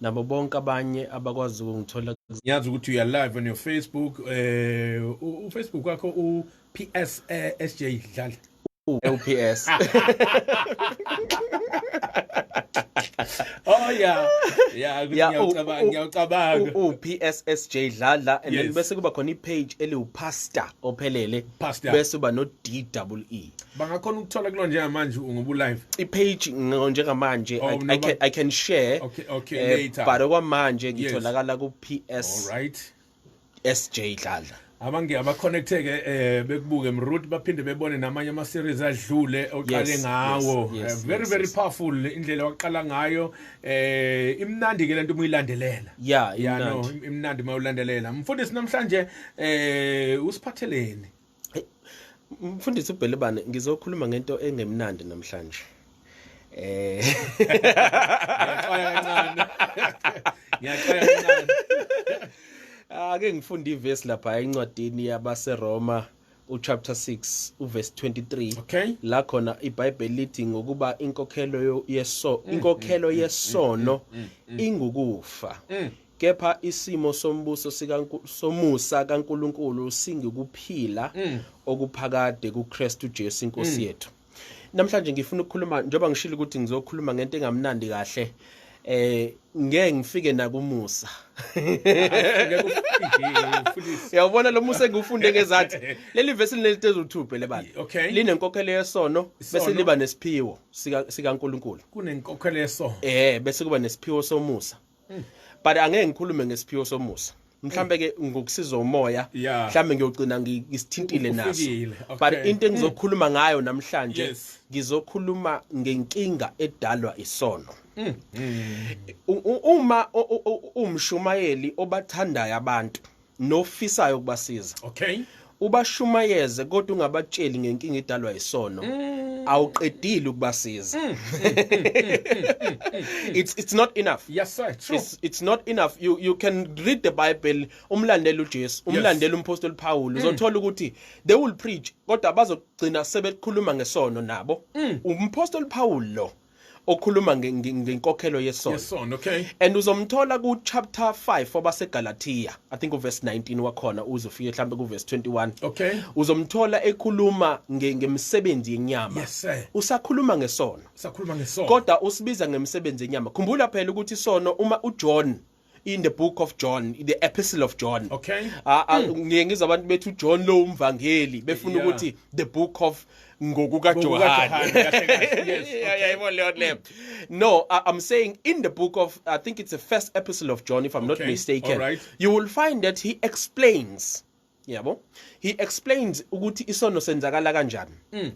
nabo bonke abanye abakwazi ukungithola ngiyazi ukuthi uya live on your facebook eh uh, ufacebook wakho u PS uh, eh, SJ Dlala uPS Oh yeah yeah ngiyacabanga ngiyacabanga uPSSJ Dlala and then bese kuba khona ipage eliwupastor ophelele bese uba no DWE bangakhona ukuthola kulo njengamanje ngoba ulive ipage njengamanje oh, no, I, can, i can share okay, okay, uh, later. but okwamanje ngitholakala yes. ku-ps All right. sj dladla abange abaconnecteke eh bekubuke mroot baphinde bebone namanye ama series adlule oqale ngawo yes, yes, eh, very yes, very yes. powerful indlela waqala ngayo eh imnandi ke lento umuyilandelela yeah imnandi no, imnandi mawulandelela mfundisi namhlanje eh usiphatheleni mfundisi ubhelebane ngizokhuluma ngento engemnandi namhlanje eh ngiyaxoya kancane ngiyaxoya kancane ake ngifunde ivesi lapha encwadini yabaseroma uchapter 6 uverse 23 okay la khona ibhayibheli lithi ngokuba inkokhelo yeso mm, inkokhelo mm, mm, yesono ingukufa kepha isimo sombuso somusa kaNkuluNkulu singikuphila mm. okuphakade kuKristu Jesu inkosi mm. yethu namhlanje ngifuna ukukhuluma njengoba ngishilo ukuthi ngizokhuluma ngento engamnandi kahle eh ngeke ngifike nakumusa yawubona lo musa engiwufunde ngezathi leli vesi linelitezo uthuphe lebala linenkokhelo yesono bese liba nesiphiwo sika sikaNkuluNkulu kunenkokhelo yesono eh bese kuba nesiphiwo somusa hmm. but angeke ngikhulume ngesiphiwo somusa mhlambe ke ngokusizwa umoya mhlambe ngiyogcina ngisithintile naso but into engizokhuluma ngayo namhlanje ngizokhuluma ngenkinga edalwa isono mm, mm. uma umshumayeli obathandayo abantu nofisayo ukubasiza okay ubashumayeze kodwa ungabatsheli ngenkinga edalwa isono mm. awuqedile ukubasiza mm. Mm. it's it's not enough yes sir true it's, it's not enough you you can read the bible umlandela uJesu umlandela umpostoli Paul uzothola ukuthi they will preach kodwa bazogcina sebekhuluma ngesono nabo umpostoli Paul lo okhuluma ngenkokhelo yesono yesono okay and uzomthola ku chapter 5 wabaseGalatia i think uverse 19 wakhona uzofike mhlambe ku verse 21 okay uzomthola ekhuluma ngemisebenzi yenyama yes sir usakhuluma ngesono usakhuluma ngesono kodwa usibiza ngemisebenzi yenyama khumbula phela ukuthi isono uma uJohn in the book of John the epistle of John okay ah, ah, hmm. ngiye ngizwa abantu bethu John lo umvangeli befuna ukuthi the book of ngokuka Johane yayibona leyo le no i'm saying in the book of i think it's the first epistle of John if i'm not mistaken you will find that he explains yabo he explained ukuthi isono senzakala kanjani mm.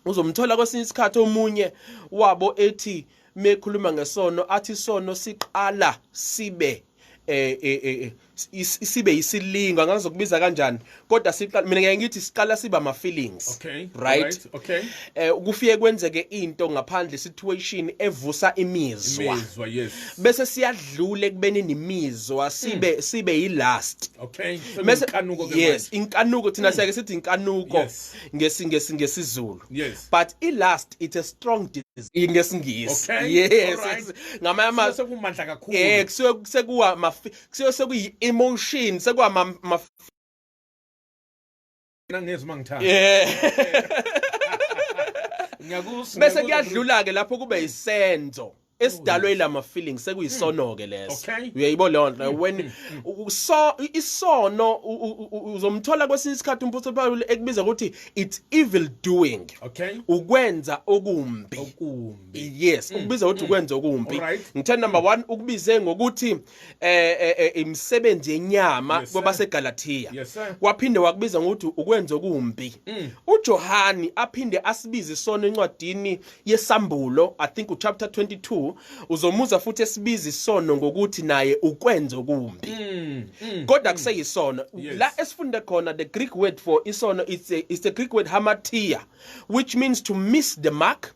uzomthola kwesinye isikhathi omunye wabo ethi mekhuluma ngesono athi isono siqala sibe eh, eh, eh, eh isibe yisilingo angazokubiza kanjani kodwa siqala mina ngeke ngithi siqala siba ama feelings okay right, right. okay eh kufike kwenzeke into ngaphandle situation evusa imizwa imizwa yes bese siyadlule kubeni nimizwa sibe hmm. sibe yilast okay so Mese, inkanuko ke yes inkanuko thina hmm. siyake sithi inkanuko yes. ngesingesi ngesizulu yes but ilast it's a strong disease ngesingisi okay. yes right. ngamanye ama sekumandla kakhulu eh kusuke sekuwa kusuke sekuyi emotion sekuwa ma, ma mina ngezwe uma ngithanda yeah ngiyakusa bese kuyadlula ke lapho kube isenzo esidalwe ilama feelings sekuyisono ke leso uyayibona leyo nto mm, when mm. so isono uzomthola kwesinye isikhathi umphuthi Paul ekubiza ukuthi it's evil doing okay ukwenza okumbi okumbi yes mm, ukubiza ukuthi ukwenza okumbi ngithe number 1 ukubize ngokuthi eh, eh, eh imisebenzi yenyama yes, kwabaseGalatia yes, waphinde wakubiza ngokuthi ukwenza okumbi mm. uJohani aphinde asibize isona encwadini yesambulo i think uchapter 22 uzomuza futhi esibiza isono ngokuthi naye ukwenza okumbi mm. mm. kodwa mm. kuseyisono yes. la esifunde khona the greek word for isono it's a, it's the greek word hamatia which means to miss the mark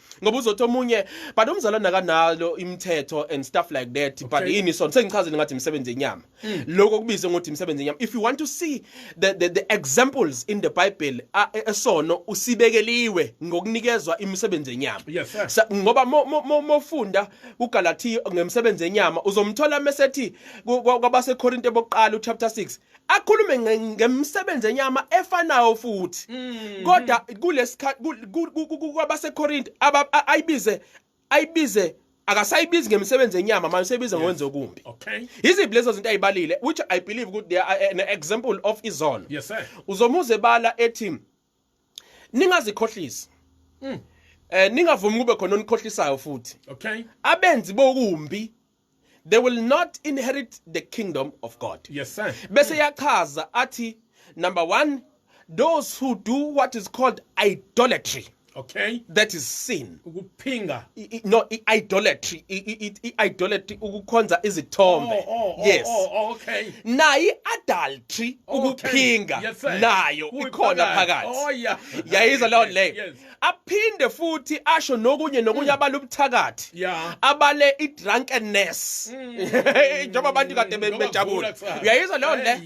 ngoba uzothi omunye but umzalwane akanalo imithetho and stuff like that but Okay. yini sona sengichazile ngathi imisebenzi yenyama hmm. lokho kubize ngokuthi imisebenzi yenyama if you want to see the, the, the examples in the bible a- e- esono usibekeliwe ngokunikezwa imisebenzi yenyama Yes, sir. Sa- ngoba mo- mo- mo- mofunda kugalatiya ngemisebenzi yenyama uzomthola mesethi ku- kwa- kwabasekorinte bokuqala uchapter 6 akhulume nge- ngemisebenzi enyama efanayo futhi Mm. kodwa kulesikhathi kwabasekorinte aba- a- ayibize ayibize akasayibizi ngemisebenzi enyama manje seyibiza ngokwenza okumbi Okay. yiziphi lezo zinto ayibalile which i believe ukuthi they are an example of izono Yes sir. uzomuze bala ethi ningazikhohlisi mm. eh ningavumi kube khona onikhohlisayo futhi okay abenzi bokumbi they will not inherit the kingdom of god yes sir bese hmm. yachaza athi number 1 those who do what is called idolatry okay that is sin phinga no iidolatry iidolatry ukukhonza izithombe oh, oh, oh, yes okay nayi adultery ukuphinga nayo ikhona phakathi yayiza leyo leyo aphinde futhi asho nokunye nokunye hmm. abale ubuthakathi abale idrunkenness hmm. njengoba abantu kade bejabula uyayiza leyo le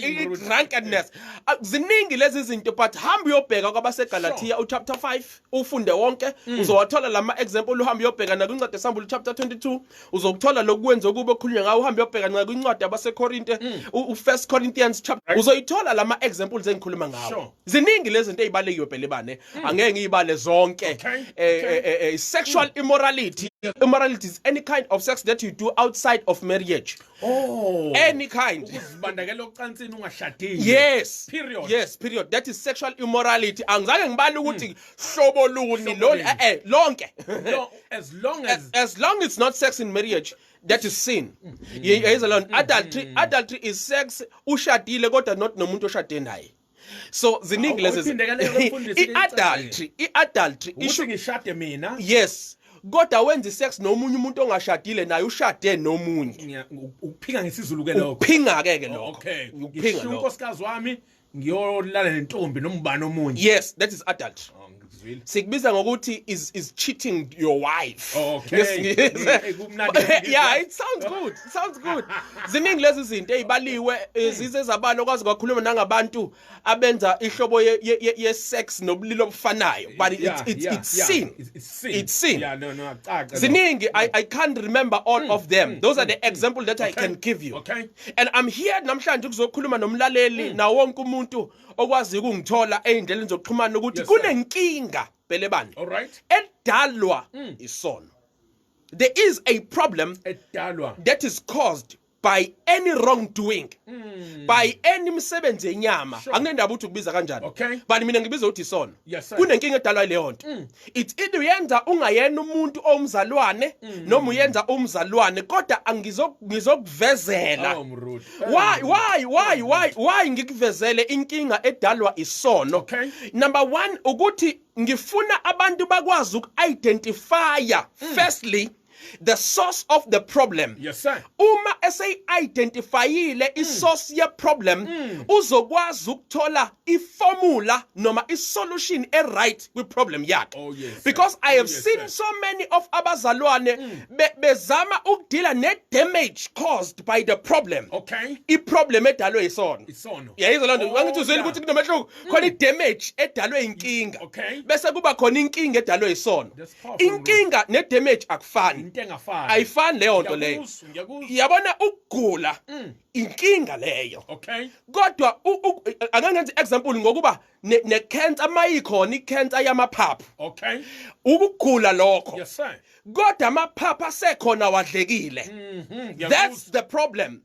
idrunkenness ziningi lezi zinto but hamba uyobheka kwabasegalatiya uchapter 5 ufunde wonke mm. uzowathola lama example uhambe uyobheka na kwincwadi esambulu chapter 22 uzokuthola lokwenza ukuba okhulunywa ngawo uhambe uyobheka na kwincwadi yabaseKorinte mm. u1 Corinthians chapter uzoyithola lama examples engikhuluma ngawo ziningi lezi zinto ezibalekiwe phela bane mm. angeke ngiyibale zonke eh, eh, eh, eh sexual immorality immorality is any kind of sex that you do outside of marriage Oh. Any kind. Ukuzibandakela ocansini ungashadile. Yes. Period. Yes, period. That is sexual immorality. Angizange ngibale hmm. ukuthi hlobo luni lo eh, eh lonke. As long as as long it's not sex in marriage. that is sin hmm. yayizalona hmm. adultery adultery is sex ushadile kodwa not nomuntu oshade naye so ziningi lezi i-adultery i-adultery isho ngishade mina yes kodwa wenza isex nomunye umuntu ongashadile naye ushade nomunye ukuphika ngesizulu ke lokho ukuphinga ke ke lokho okay ukuphinga lokho unkosikazi wami ngiyolala nentombi nombani omunye yes that is adultery oh, sikubiza ngokuthi is is cheating your wife oh, okay yeah it sounds good it sounds good ziningi lezi zinto ezibaliwe eh, zize zabalo kwazi kwakhuluma nangabantu abenza ihlobo ye, ye, ye sex nobulilo obufanayo but it's yeah, it's, yeah, it's yeah. sin it's sin it's sin yeah no no akucaca ziningi i i can't remember all mm, of them mm, those mm, are the mm, example that okay. i can give you okay and i'm here namhlanje ukuzokhuluma nomlaleli mm. na wonke umuntu okwazi ukungithola ey'ndleleni zokuxhumana ukuthi kunenkinga belebani edalwa mm. isono there is a problem edalwa that is caused by any wrongdoing mm. by any msebenzi yenyama sure. anginendaba ukuthi ukubiza kanjani okay. but mina ngibiza ukuthi isono yes, kunenkinga edalwa ileyo nto mm. it's either uyenza ungayena umuntu omzalwane mm. noma uyenza umzalwane kodwa angizokuvezela oh, why why why why why ngikuvezele inkinga edalwa isono okay. number 1 ukuthi ngifuna abantu bakwazi uku-identifya mm. firstly the source of the problem yes sir uma eseyi identifyile mm. isource ye problem mm. uzokwazi ukuthola iformula noma isolution e right kwi problem yakhe oh, yes, because i oh, have oh, yes, seen sir. so many of abazalwane mm. be, bezama ukudila ne damage caused by the problem okay i problem edalwe yisono isono yayizwa lonto oh, ngithi uzwile ukuthi kunomehluko mm. khona i damage edalwe inkinga okay bese kuba khona inkinga edalwe yisono inkinga ne damage akufani into engafani ayifani leyo nto leyo yabona ukugula mm. inkinga leyo okay kodwa ake ngenze example ngokuba ne cancer mayikhona i cancer yamaphaphu okay ukugula lokho yes sir kodwa amaphaphu asekhona wadlekile mhm, that's the problem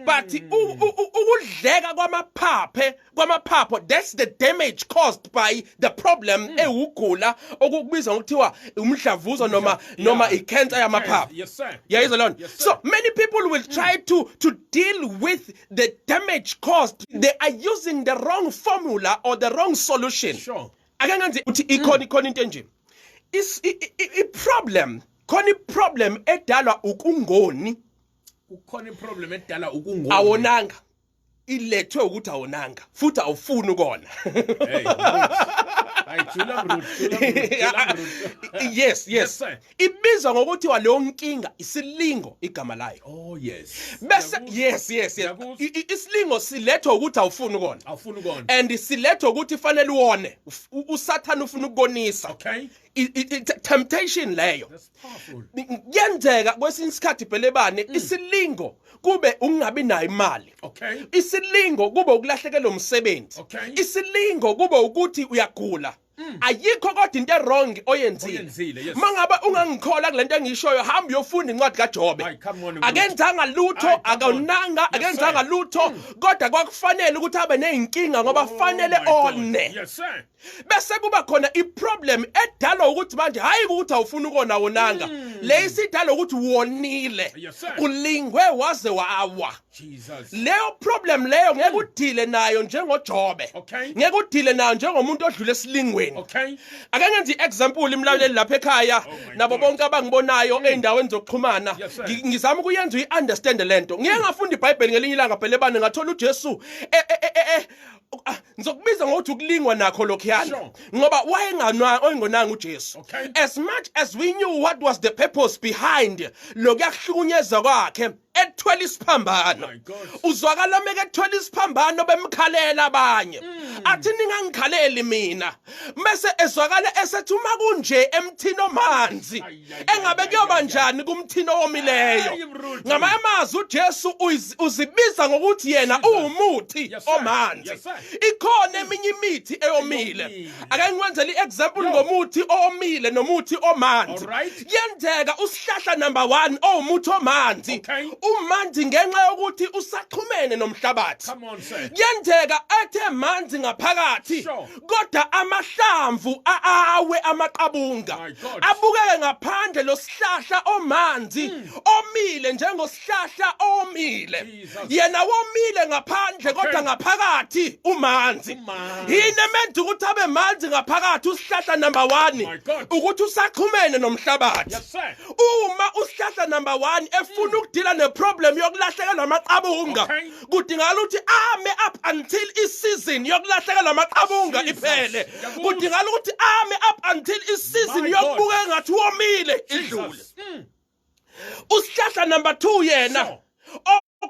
but hmm. ukudleka kwamaphaphe kwamaphapho that's the damage caused by the problem hmm. ewugula okubizwa ngokuthiwa umdlavuzo noma noma icancer yamaphapho yayizwa lona so many people will hmm. try to to deal with the damage caused they are using the wrong formula or the wrong solution sure ake ngenze uthi ikhona ikhona into enje i problem khona i problem edalwa ukungoni kukhona iproblem edala ukungona awonanga ilethwe ukuthi awonanga futhi awufuni ukona yes yes ibizwa ngokuthi waleyo nkinga isilingo igama layo oh yes bese yes yes yes isilingo silethwa ukuthi awufuni ukona awufuni ukona and silethwa ukuthi fanele uone usathana ufuna ukukonisa okay temptation leyo kuyenzeka kwesinye isikhathi bhelebane mm. isilingo kube ukungabi nayo imali isilingo kube ukulahlekelwa umsebenzi isilingo kube ukuthi uyagula Mm. ayikho kodwa into erong oyenzile uma ngabe ungangikhola kule nto engishoyo hamba uyofunda incwadi kajobe akenzanga lutho akonanga akenzanga lutho mm. kodwa kwakufanele ukuthi abe ney'nkinga ngoba oh, fanele one bese kuba khona iproblem edalwa ukuthi manje hayi ukuthi awufuni ukona wonanga mm. le isidalwa ukuthi wonile yes, ulingwe waze wawa Jesus leyo problem leyo ngeke hmm. udile nayo njengoJobe okay. ngeke udile nayo njengomuntu odlule esilingweni okay. ake ngenze iexample imlaleli lapha ekhaya oh nabo bonke abangibonayo mm. eindaweni zokuxhumana yes, ngizama ukuyenza uyiunderstand lento ngeke ngafunda iBhayibheli ngelinye ilanga phela ebane ngathola uJesu eh, eh, eh, eh, eh Ah, ngizokubiza ngokuthi ukulingwa nakho lokhuyana Sure. ngoba wayenganwa oyengonanga uJesu Okay. as much as we knew what was the purpose behind lokuyakuhlukunyezwa kwakhe ethwela isiphambano My God. uzwakala meke ethwela isiphambano bemkhalela abanye Mm. athi ningangikhaleli mina mese ezwakala esethi uma kunje emthini omanzi engabe kuyoba njani kumthina owomileyo ngamanye amazwi ujesu uzibiza ngokuthi yena uwumuthi omanzi ikhona eminye imithi eyomile ake ngikwenzele i-example ngomuthi owomile nomuthi omanzi kuyenzeka usihlahla number one owumuthi omanzi umanzi ngenxa yokuthi usaxhumene nomhlabathi kuyenzeka ethe manzi ngaphakathi kodwa amahlamvu aawe amaqabunga abukeke ngaphandle losihlahla omanzi hmm. omile njengosihlahla omile yena womile ngaphandle kodwa ngaphakathi umanzi yini emenza ukuthi abe manzi ngaphakathi usihlahla number 1 ukuthi usaqhumene nomhlabathi uma usihlahla number 1 efuna hmm. ukudila neproblem yokulahlekelwa amaqabunga kudingakala ukuthi ame up until isizini yokulahlekelwa amaqabunga iphele kudingakala ukuthi ame up until isizini yokubuka engathi womile idlule mm. usihlahla number 2 yena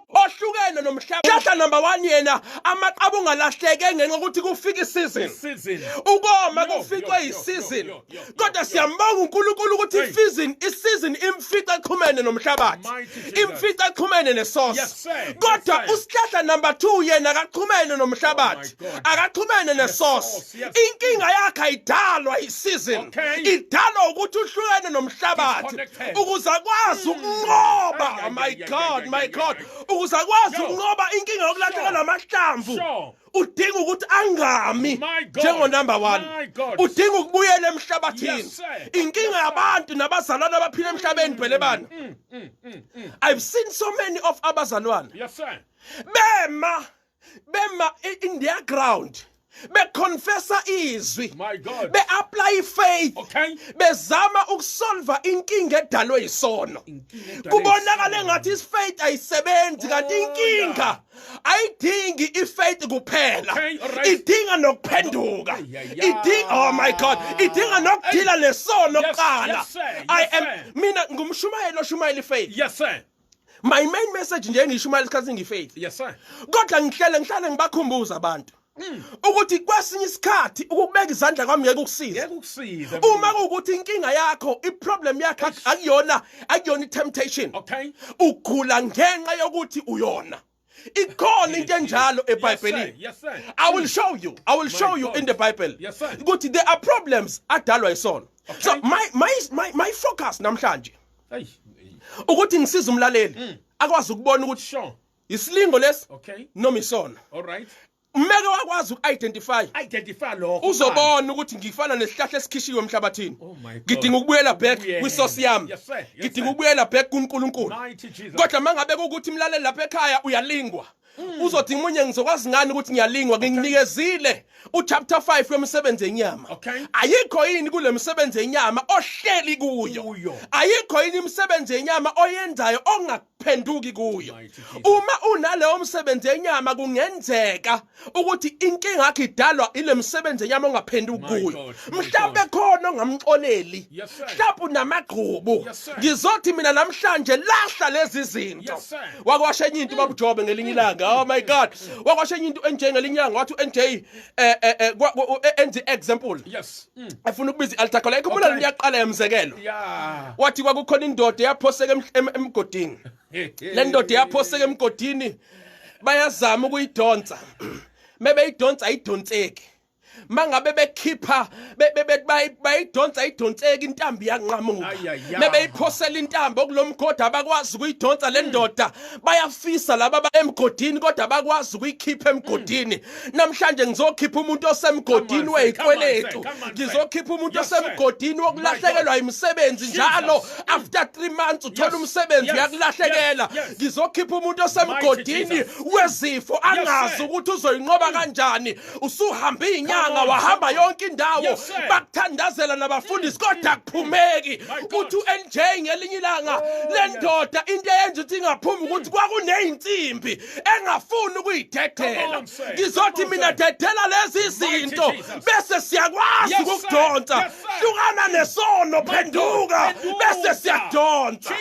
ohlukene nomhlaba hlahla number 1 yena amaqaba ungalahleke ngenxa ukuthi kufika isizini ukoma kufikwe isizini kodwa siyambonga uNkulunkulu ukuthi ifizini isizini imfica exhumene nomhlabathi imfica exhumene nesource kodwa usihlahla number 2 yena akaxhumene oh nomhlabathi akaxhumene nesource inkinga yakhe ayidalwa isizin idalwa ukuthi uhlukene nomhlabathi ukuze akwazi hmm. ukunqoba oh my god my god ukuze akwazi ukunqoba inkinga yokulahleka namahlamvu udinga ukuthi angami njengo number 1 udinga ukubuyela emhlabathini inkinga yabantu nabazalwana abaphila emhlabeni mm, phele bana mm, mm, i've seen so many of abazalwana yes sir bema bema in their ground beconfessa izwi beapply faith okay. bezama ukusolva inkinga edalwe yisono kubonakala engathi isifaith ayisebenzi kanti oh, inkinga ayidingi ifaith kuphela idinga nokuphenduka idinga oh my god idinga nokudila lesono kuqala i am mina ngumshumayeli oshumayela ifaith yes sir my main message nje ngishumayela isikhathi ngifaith yes sir kodwa ngihlele ngihlale ngibakhumbuza abantu Mm. ukuthi kwesinye isikhathi ukubeka izandla kwami ngeke ukusize uma kuwukuthi inkinga yakho iproblem yakho akuyona akuyona i-temptation ugula ngenxa yokuthi uyona ikhona into enjalo ebhayibhelini i will show you i will show you in the bible ukuthi there are problems adalwa isono so my my my, my focus namhlanje ukuthi ngisize umlaleli mm. akwazi ukubona ukuthi isilingo lesi okay noma isona all right umeke wakwazi uku-identify identify lokho uzobona ukuthi ngifana nesihlahla esikhishiwe emhlabathini oh ngidinga ukubuyela back kwisosi yami ngidinga ukubuyela back kunkulunkulu kodwa uma ngabe kukuthi mlaleli lapha ekhaya uyalingwa mm. uzodinga umunye ngizokwazi ngani ukuthi ngiyalingwa nginikezile uchapter 5 wemisebenzi yenyama ayikho yini kule misebenzi yenyama ohleli kuyo ayikho yini imisebenzi yenyama oyenzayo phenduki kuyo uma unaleyo msebenzi yenyama kungenzeka ukuthi inkinga yakhe idalwa ile msebenzi yenyama ongaphenduki kuyo mhlawumbe khona ongamxoleli mhlawumbe unamagqubu ngizothi mina namhlanje lahla lezi zinto wakwasha enye into babujobe ngelinye ilanga oh my god wakwasha enye into enjengelinye ilanga wathi uNJ eh, eh, eh, enze example yes Mm. efuna ukubiza i-altar call ikhumbula okay. liyaqala yamzekelo yeah. wathi kwakukhona indoda yaphoseka emgodini le ndoda yaphoseka emgodini bayazama ukuyidonsa mebeyidonsa ayidonseki mangabe bekhipha bayidonsa idonseka intambi yanqamuka mebeyiphosela intambi okulomgodi abakwazi ukuyidonsa le ndoda bayafisa laba emgodini kodwa abakwazi ukuyikhipha emgodini namhlanje ngizokhipha umuntu osemgodini wezikweletu ngizokhipha umuntu osemgodini wokulahlekelwa imisebenzi njalo after 3 months uthola umsebenzi uyakulahlekela ngizokhipha umuntu osemgodini wezifo angazi ukuthi uzoyinqoba kanjani usuhambe inyanga wahamba yonke indawo bakuthandazela nabafundisi mm. kodwa kuphumeki uthi uNJ ngelinye ilanga oh, lendoda into eyenza ukuthi ingaphumi ukuthi kwakunezinsimbi engafuni ukuyidedela ngizothi mina dedela lezi zinto bese siyakwazi ukukudonsa hlukana nesono phenduka bese siyadonsa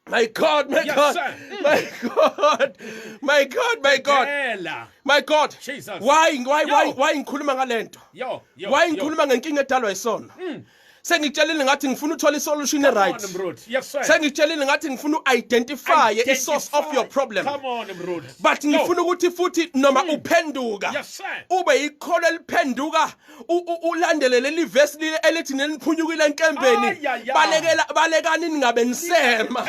My God, my yes, God, sir. my God, my God, my God, my God. Jesus. Why, why, why, why ngikhuluma ngalento? Yo, yo, why ngikhuluma ngenkinga edalwa isona? Mm. sengitshelile ngathi ngifuna uthola isolution eright sengitshelile ngathi ngifuna uidentify isource of your problem but ngifuna ukuthi futhi noma hmm. uphenduka ube ikholo eliphenduka ulandele leli verse lile elithi neniphunyukile enkembeni balekela balekani ningabe nisema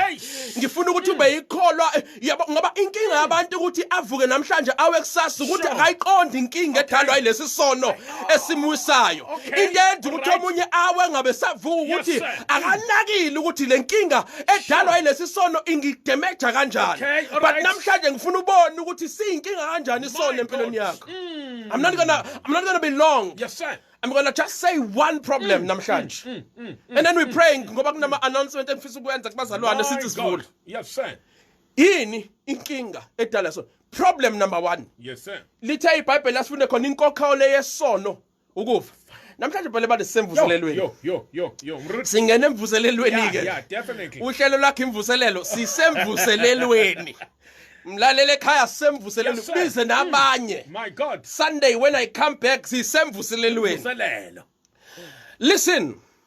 ngifuna ukuthi ube ikholwa yabo ngoba inkinga yabantu ukuthi avuke namhlanje awe kusasa ukuthi akayiqondi inkinga edalwa yilesi sono esimwisayo into yenza ukuthi omunye awe ngabe savuka ukuthi akanakile ukuthi le nkinga edalwa yilesi sono ingidemeja kanjani but namhlanje ngifuna ubone ukuthi siyinkinga kanjani isono empilweni yakho hmm. i'm not gonna i'm not gonna be long yes sir I'm going to just say one problem mm, namhlanje. Mm, mm, mm, and then we mm, praying mm, ngoba kunama announcement engifisa ukwenza kubazalwane sithi sivule. yes sir yini inkinga edala so problem number 1 yes sir lithe ibhayibheli lasifunde khona inkokha ole yesono ukufa namhlanje phela bade semvuselelweni yo yo yo yo singena emvuselelweni ke yeah definitely uhlelo lakhe imvuselelo sisemvuselelweni mlalele ekhaya sisemvuselelweni yes, bize nabanye mm. my god sunday when i come back sisemvuselelweni listen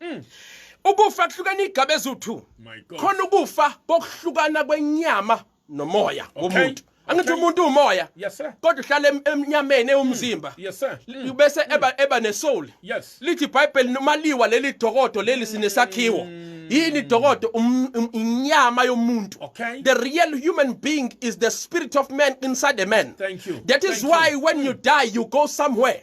Mm. Ukufa kuhlukana igaba eziwu-2. Khona ukufa kokuhlukana kwenyama nomoya womuntu. angithi umuntu umoya kodwa uhlala emnyameni ewumzimba mm. bese eba eba nesoul lithi ibhayibheli noma liwa leli dokodo leli sinesakhiwo mm. yini dokodo um, um, inyama yomuntu the real human being is the spirit of man inside a man that is why when you die you go somewhere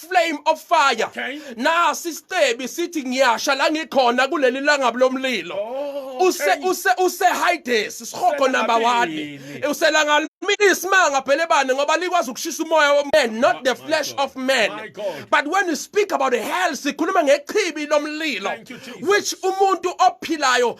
flame of fire okay. nasi isicebi sithi ngiyasha la ngikhona kuleli langabi lomlilo oh, okay. use use use hides sihogo number 1 uselanga isimanga phela ebane ngoba likwazi ukushisa umoya woman not oh, the flesh God. of man but when you speak about hell sikhuluma ngechibi lomlilo which umuntu ophilayo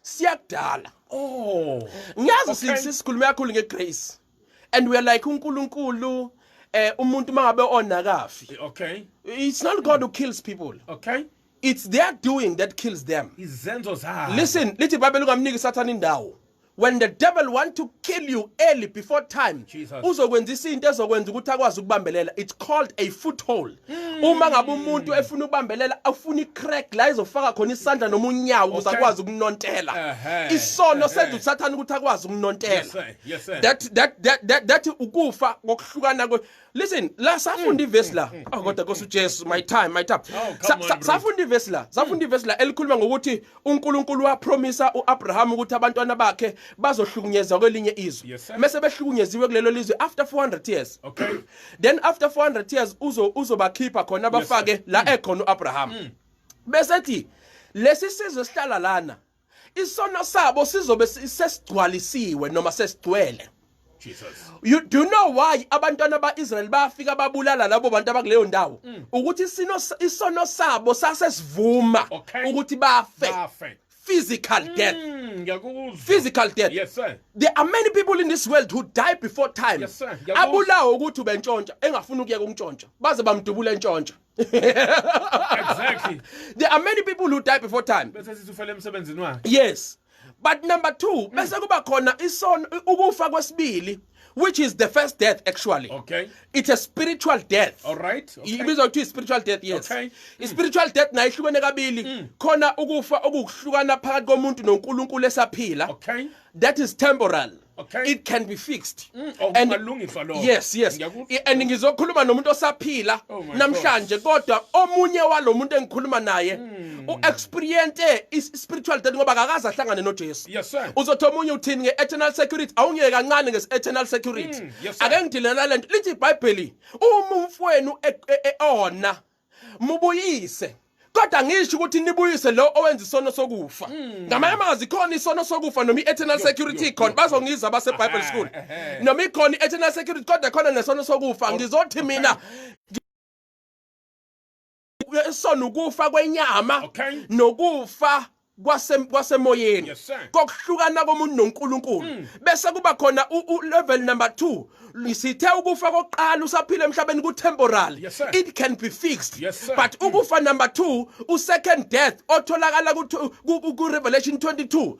siyakudala oh ngiyazi okay. sisikhuluma kakhulu ngegrace and we are like uNkulunkulu eh umuntu mangabe onakafi okay it's not god who kills people okay it's their doing that kills them izenzo zabo listen lithi bible ungamniki sathana indawo when the devil want to kill you early before time uzokwenzisa into ezokwenza ukuthi akwazi ukubambelela it's called a foothold Hmm. uma ngabe umuntu efuna ukubambelela afuna icrack la izofaka khona isandla noma unyawo ukuze akwazi ukunontela isono senza usathana ukuthi akwazi ukunontela that that that that ukufa ngokuhlukana kwe listen la safunda hmm. ivesi la hmm. oh kodwa kosujesu my time my time oh, safunda ivesi la safunda ivesi la elikhuluma ngokuthi uNkulunkulu wapromisa uAbraham ukuthi abantwana bakhe bazohlukunyezwa kwelinye izwe yes, mase behlukunyeziwe kulelo lizwe after 400 years okay then after 400 years uzo uzobakhipha khona bafake yes, la mm. ekhona uAbraham mm. bese thi lesi sizwe sihlala lana isono sabo sizobe sesigcwalisiwe noma sesigcwele Jesus. You do you know why abantwana baIsrael bafika babulala labo bantu abakuleyo ndawo mm. ukuthi sino isono sabo sase sivuma okay. ukuthi bafe. Bafe. Physical mm, death. Mm, physical death. Yes sir. There are many people in this world who die before time. Yes sir. Abulawa ukuthi ubentshontsha engafuni ukuyeka ukuntshontsha. Baze bamdubula entshontsha. exactly there are many people who die before time bese sisufela emsebenzini wakhe yes but number 2 bese kuba khona isono ukufa kwesibili which is the first death actually okay it's a spiritual death all right okay. ibizwa kuthiwa spiritual death yes okay. mm. spiritual death nayo ihlukene kabili mm. khona ukufa okuhlukana phakathi komuntu noNkulunkulu esaphila okay that is temporal Okay. It can be fixed. Mm, oh, and malungiswa lokho. Yes, yes. And ngizokhuluma nomuntu osaphila oh namhlanje kodwa omunye walomuntu engikhuluma naye mm. u experience is spiritual death ngoba akakaze ahlangane noJesu. Yes sir. Uzothi omunye uthini nge eternal security awungeke kancane nge eternal security. Mm, yes, Ake ngidelela lento lithi iBhayibheli uma umfwenu e, e, e, ona mubuyise kodwa ngisho ukuthi nibuyise lo owenza isono sokufa hmm. ngamanye amazwi khona isono sokufa noma i-eternal security khona bazongiza base-bible school noma ikhona i-eternal security kodwa khona nesono sokufa ngizothi mina isono ukufa kwenyama nokufa kwasemoyeni kokuhlukana komuntu noNkulunkulu mm. bese kuba khona level number 2 sithe ukufa kokuqala usaphila emhlabeni ku temporary it can be fixed but mm. ukufa number 2 u second death otholakala ku revelation 22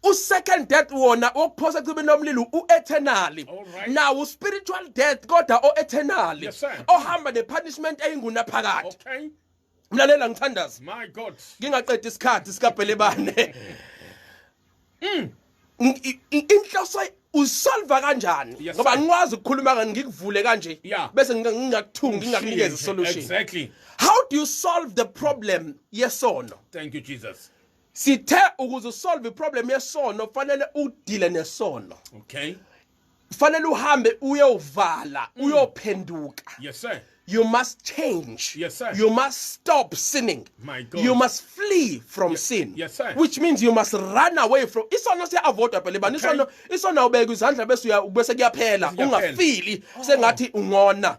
usecond death wona okuphosa ecibini lomlilo ueternally now uspiritual death kodwa oeternally ohamba nepunishment eyinguna phakathi mlalela ngithandaza my god ngingaqeda isikhathi sikabhelebane mm inhloso usolva kanjani yes, ngoba ngikwazi ukukhuluma ngani ngikuvule kanje yeah. bese ngingakuthungi ngingakunikeza solution exactly how do you solve the problem yesono thank you jesus sithe ukuze usolve iproblem yesono kufanele udile nesono okay kufanele uhambe uyovala mm. uyophenduka yes sir you must change yes sir you must stop sinning my god you must flee from yes, sin yes sir which means you must run away from isono siya avoid phela bani isono isono ubeka izandla bese uya bese kuyaphela ungafili oh. sengathi ungona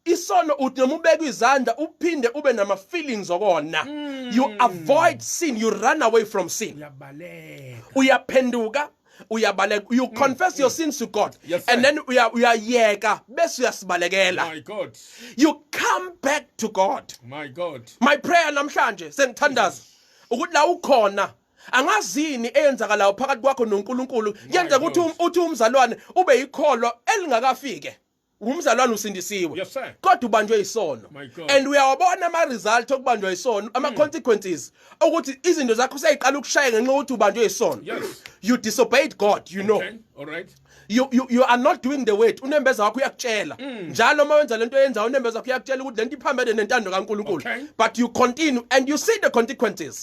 isono uthi noma ubeka izandla uphinde ube nama feelings okona mm. you avoid sin you run away from sin uyabaleka uyaphenduka uyabaleka you mm, confess your mm. sins to god yes, and then uyayeka bese uyasibalekela my god you come back to god my god my prayer namhlanje sengithandaza ukuthi la ukhona angazini eyenzakalayo phakathi kwakho noNkulunkulu yenza ukuthi um, uthi umzalwane ube yikholwa elingakafike ngumzalwane usindisiwe yes, kodwa ubanjwe isono and uyawabona ama result okubanjwa isono ama mm. consequences ukuthi izinto zakho seyiqala ukushaya ngenxa ukuthi ubanjwe isono yes. you disobeyed god you okay. know all right you, you, you are not doing the word unembeza wakho uyakutshela mm. njalo uma wenza lento yenza unembeza wakho uyakutshela ukuthi lento iphambene nentando kaNkulunkulu okay. but you continue and you see the consequences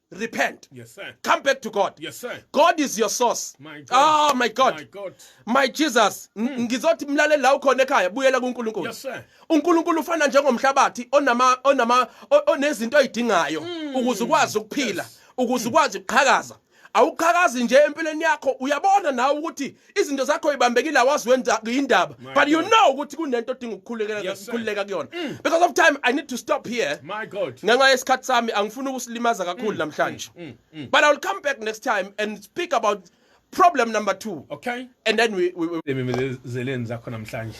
repent. Yes, sir. Come back to God. Yes, sir. God is your source. My God. Oh, my God. My God. My Jesus. Hmm. Ngizothi mlaleli la ukhona ekhaya buyela kuNkulunkulu. Yes, sir. UNkulunkulu ufana njengomhlabathi onama onama onezinto ayidingayo hmm. ukuze ukwazi ukuphila, ukuze hmm. ukwazi ukuqhakaza. awuqhakazi nje empilweni yakho uyabona nawe ukuthi izinto zakho ibambekile awazi wenza indaba but you know ukuthi kunento odinga ukukhulekela ukukhuleka kuyona mm. because of time i need to stop here my god ngenxa yesikhathi sami angifuni ukusilimaza kakhulu mm, namhlanje mm, but i will come back next time and speak about problem number 2 okay and then we we, we... zakhona namhlanje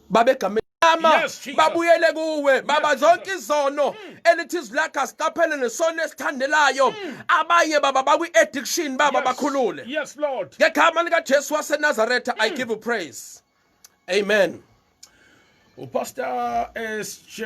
babegamela ama babuyele kuwe baba zonke izono hmm. elithi zilakha siqaphele nesono esithandelayo hmm. abanye baba bakwi-addiction baba bakhulule ngegama likajesu wasenazaretha hmm. i give you praise amen upastor sj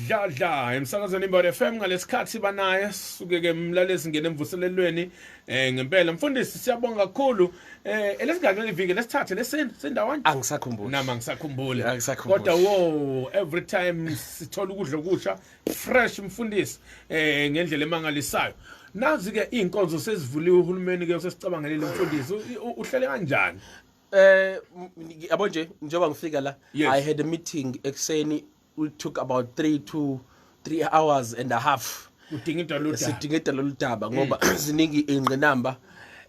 dladla emsakazweni imbod fm ngalesikhathi banaye suke-ke mlalezi ngene emvuselelweni Eh ngempela mfundisi siyabonga kakhulu. Eh elesigaxele iviki lesithathe lesini sindawani? Angisakhumbuli. Nama ngisakhumbuli. Angisakhumbuli. Kodwa wo every time sithola ukudla okusha fresh mfundisi eh ngendlela emangalisayo. Nazi ke inkonzo sezivuliwe uhulumeni ke usesicabangelile mfundisi uhlele kanjani? Eh yabo nje njengoba ngifika la I had a meeting ekseni we took about 3 to 3 hours and a half udinga into lolu daba sidinga into lolu daba ngoba mm. ziningi ingqinamba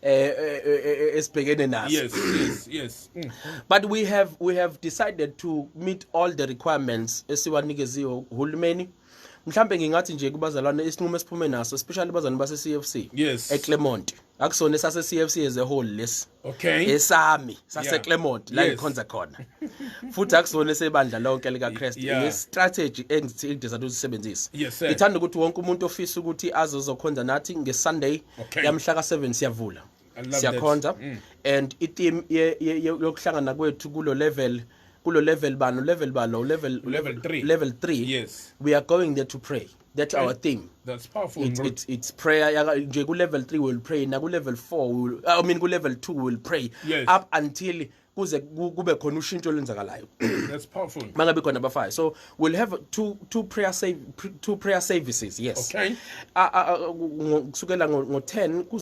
eh, eh, eh, esibhekene naso yes yes yes mm. but we have we have decided to meet all the requirements esiwanikeziwe uhulumeni mhlambe ngingathi nje kubazalwane isinqumo esiphume naso especially bazalwane base CFC yes eClermont akusona esase CFC as a whole lesi okay esami saseClermont la ngikhonza khona futhi akusona esebandla lonke lika Christ i strategy engithi ngidesa usisebenzisa ngithanda ukuthi wonke umuntu ofisa ukuthi azozokhonza nathi nge Sunday yamhla ka 7 siyavula siyakhonza mm. and i team yokuhlangana kwethu kulo level kulo level bani level balo level level 3 level 3 yes we are going there to pray that's our thing that's powerful it's, it's, it's prayer nje ku-level 3 will pray naku-level 4 will, i mean ku-level 2 will pray yes. up until kuze kube khona ushintsho olenzakalayo that's powerful mangabe khona abafayo so we'll have two two prayer save two prayer services yes okay kusukela ngo 10 ku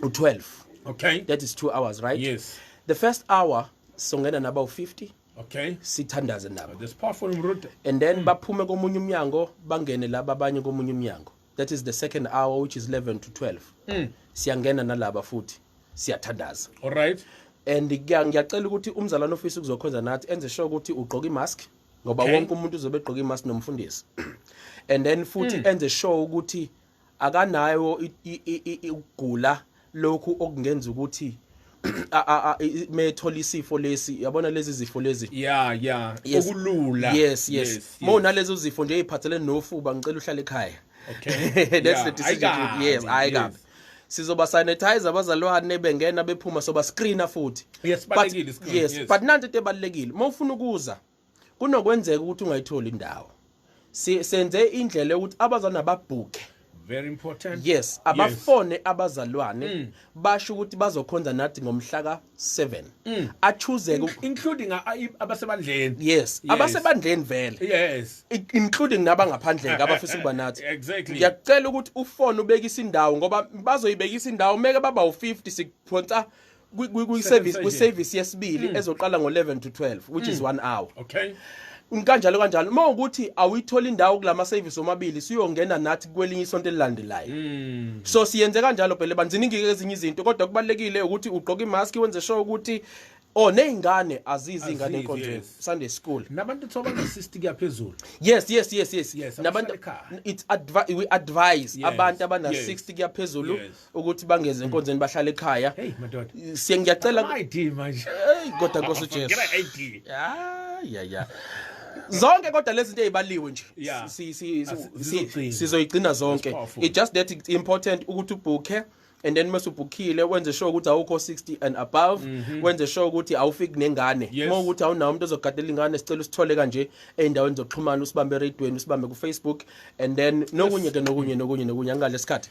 12 okay that is 2 hours right yes the first hour songena nabawu 50 okay sithandaze nabo this powerful mrude and then mm. baphume komunye umnyango bangene laba abanye komunye umnyango that is the second hour which is 11 to 12 mm. siyangena nalaba futhi siyathandaza all right and ngiyacela ukuthi umzalwane ofisa ukuzokhonza nathi enze sure ukuthi ugqoka imask ngoba okay. wonke umuntu uzobe egqoka imask nomfundisi and then futhi mm. enze sure ukuthi akanayo ukugula lokhu okungenza ukuthi methola isifo lesi yabona lezi zifo lezi yeah yeah yes. okulula yes yes, yes, yes. mona lezo zifo nje eziphathelene nofuba ngicela uhlale ekhaya okay that's yeah. the decision I yes hayi kabi yes. sizoba sanitizer abazalwane bengena bephuma soba screena futhi yes balekile screen yes, yes. but nanti into ebalekile uma ufuna ukuza kunokwenzeka ukuthi ungayitholi indawo senze indlela yokuthi abazana babhuke very important yes abafone yes. abazalwane mm. basho ukuthi bazokhonza nathi ngomhla ka 7 mm. achuzeke In, including abasebandleni yes, yes. abasebandleni vele yes including nabangaphandle abafisa ukuba nathi exactly ngiyacela ukuthi ufone ubekisa indawo ngoba bazoyibekisa indawo meke baba u50 sikuphonsa kwi-service kwi-service yesibili mm. ezoqala ngo-11 to 12 which is 1 mm. hour okay kanjalo kanjalo uma ukuthi awuyithola indawo kulama service omabili siyongena nathi kwelinye isonto elilandelayo mm. so siyenze kanjalo phela banziningi ezinye izinto kodwa kubalekile ukuthi ugqoke imask wenze sure ukuthi Oh nezingane azizi ingane enkonzweni yes. Sunday school. Nabantu thoba ngesist kuyaphezulu. Yes yes yes yes. yes Nabantu it's advi we advise yes. abantu abana yes. 60 kuyaphezulu yes. ukuthi bangeze hmm. enkonzweni bahlale ekhaya hey madoda siye ngiyacela ID manje hey kodwa Nkosi Jesu ngena ID ya ya zonke kodwa lezi zinto ezibaliwe nje sizoyigcina zonke it just that it's important ukuthi ubhukhe and then mase ubhukhile wenze sure ukuthi awukho 60 and above mm -hmm. wenze sure ukuthi awufiki nengane yes. uma ukuthi awunawo umuntu ozogadela ingane sicela usithole kanje endaweni zokuxhumana usibambe eradweni usibambe kufacebook and then nokunye ke nokunye nokunye nokunye angale isikhathi